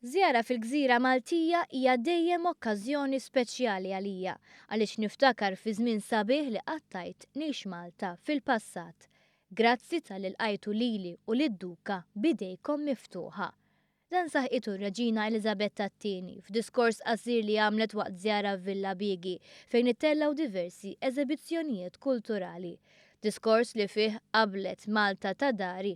Żjara fil-gżira Maltija hija dejjem okkażjoni speċjali għalija għaliex niftakar fi żmien sabiħ li qattajt ngħix Malta fil-passat. Grazzi talli lqajtu lili u lid-Duka b'idejkom miftuħa. Dan saħqitu r-Reġina Eliżabetta t-Tieni f'diskors qasir li għamlet waqt żjara f'Villa Biegi fejn ittellgħu diversi eżebizzjonijiet kulturali. Diskors li fih qablet Malta ta' dari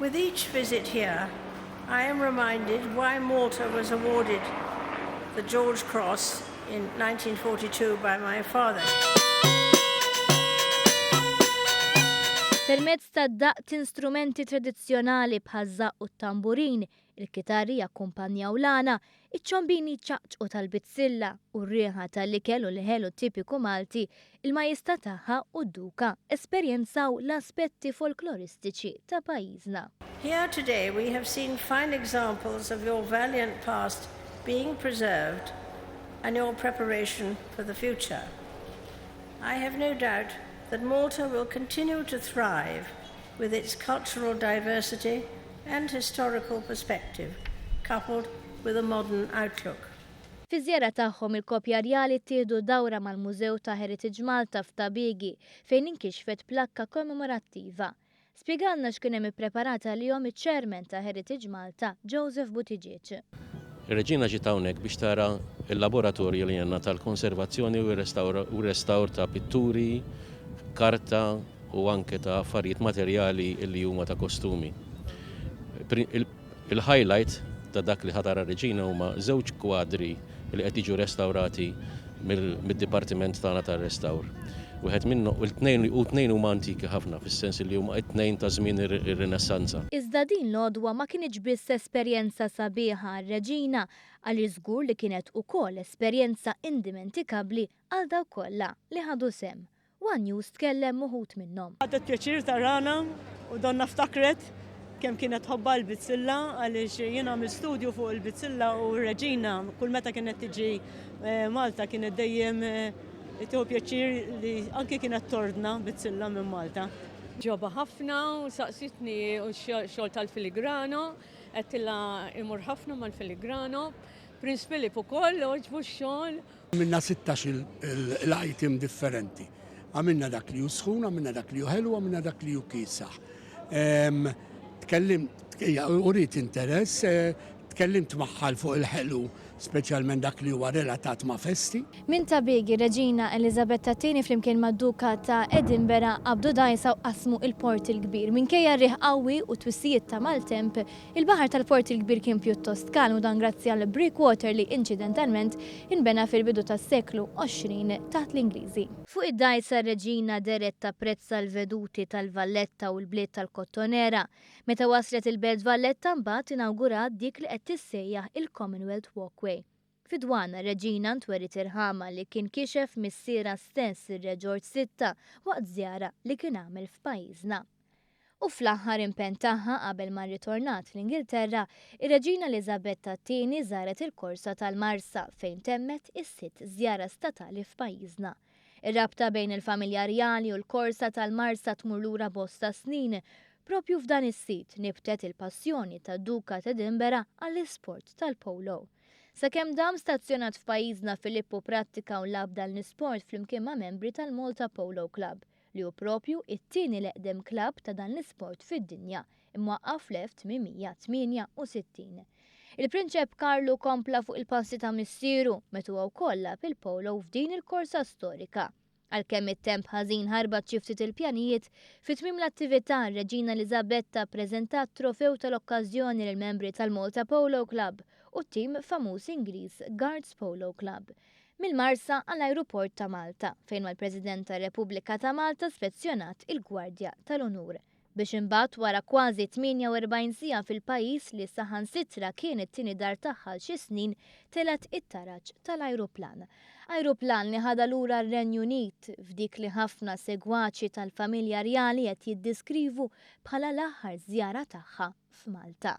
With each visit here I am reminded why Malta was awarded the George Cross in 1942 by my father. Permezz tad-daqq t'instrumenti tradizzjonali bħaż-żaqq u t-tamburin, Il-kitarri jakkumpanjaw l-għana, iċ-ċombini jċaqċqu tal-bizzilla u r-riħa tal-ikel u l-ħelu tipiku Malti, il-majesta tagħha u d-duka esperjenzaw l-aspetti folkloristiċi ta' pajjiżna. Here today we have seen fine examples of your valiant past being preserved and your preparation for the future. I have no doubt that Malta will continue to thrive with its cultural diversity and historical perspective coupled with a modern outlook. Fiż-żjara tagħhom il-koppja rjali ttieħdu dawra mal-Mużew ta' Heritage Malta f'Ta' Biegi fejn inkixfet plakka kommemorattiva. Spjegalna x'kien hemm ippreparat għalihom iċ-Chairman ta' Heritage Malta, Joseph Buttigieg. Ir-Reġina ġiet hawnhekk biex tara l-laboratorju li għandna tal-konservazzjoni u r-restawr ta' pitturi, karta u anke ta' affarijiet materjali li huma ta' kostumi. Il-highlight ta' dak li ħa tara r-Reġina huma żewġ kwadri li qed jiġu restawrati mid-dipartiment tagħna tar-restawr. Wieħed minnho, u t-tnejn, u t-tnejn huma antiki ħafna fis-sens li huma t-tnejn ta' żmien ir-Rinassanza. Iżda din l-għodwa ma kinitx biss esperjenza sabiħa għar-Reġina għaliex żgur li kienet ukoll esperjenza indimentikabbli għal dawk kollha li ħadu sehem One News tkellem m'uħud minnhom. Ħadet pjaċir tarana u donnha ftakret kemm kienet tħobbha l-bizzilla għaliex jien għamilt studju fuq il-bizzilla u r-Reġina kull meta kienet tiġi Malta kienet dejjem tieħu pjaċir li anke kienet tordna bizzilla minn Malta. Ġobha ħafna u saqsitni u x-xogħol tal-filigrano, għedtilha imur ħafna mal-filigrano. Prince Philip ukoll għoġbu x-xogħol Għamilna sittax il-item differenti. Għamilna dak li hu sħun, għamilna dak li hu ħelu, għamilna dak li hu kiesaħ. Ehm, tkellim, urit interess, eh, tkellimt magħha fuq il-ħelu, speċjalment dak li huwa relatat ma' festi. Minn ta' Big, ir-Reġina Eliżabetta ii flimkien mad-Duka ta' Edinbera qabdu dgħajsa u qasmu il-Port il-Kbir. Minkejja r-riħ qawwi u t-twissijiet ta' maltemp, Il-baħar tal-Port il-Kbir kien pjuttost kalm u dan grazzi għal breakwater li inċidentalment inbena fil-bidu tas-seklu 20 taħt l-Ingliżi. Fuq id-dgħajsa r-Reġina dehret tapprezza l-veduti tal-Valletta u l-bliet tal-Kottonera. Meta waslet il-Belt Valletta mbagħad inawgurat dik li qed tissejjaħ il-Commonwealth Walkway. Fid-dwana, Reġina ntweriet irħamha li kien kixef missierha stess, ir-Re Ġorġ Sitta, waqt żjara li kien għamel f'pajjiżna. U fl-aħħar impenn tagħha qabel ma rritornat fl-Ingilterra, ir-Reġina Eliżabetta t-Tieni żaret il-Korsa tal-Marsa fejn temmet is-sitt żjara statali f'pajjiżna. Ir-rabta bejn il-familja rjali u l-Korsa tal-Marsa tmur lura bosta snin. Proprju f'dan is-sit nibtet il-passjoni tad-Duka t'Edinburgh għall-isport tal-polo. Sakemm dam stazzjonat f'pajjiżna Filippo prattika u lagħab dan l-isport flimkien ma' membri tal-Malta Polo Club, li hu proprju t-tieni l-eqdem klabb ta' dan l-isport fid-dinja, imwaqqaf fl-1868. Il-Prinċep Karlu kompla fuq il-passi ta' missieru, meta huwa wkoll lagħab il-polo f'din il-korsa storika. Għalkemm it-temp ħażin ħarbat xi ftit il-pjanijiet, fi tmiem l-attività r-Reġina Eliżabetta ppreżentat trofew tal-okkażjoni lill-membri tal-Malta Polo Club u t-tim famuż Ingliż Guards Polo Club. Mill-Marsa għall-Ajruport ta' Malta, fejn mal-President tar-Repubblika ta' Malta spezzjonat il-Gwardja tal-Unur. biex imbagħad wara kważi 48 siegħa fil-pajjiż li saħansitra kien it-tieni dar tagħha għal xi snin telgħet it-taraġ tal-ajruplan. Ajruplan li ħadha lura r-Renju Unit f'dik li ħafna segwaċi tal-familja rjali qed jiddiskrivu bħala l-aħħar żjara tagħha f'Malta.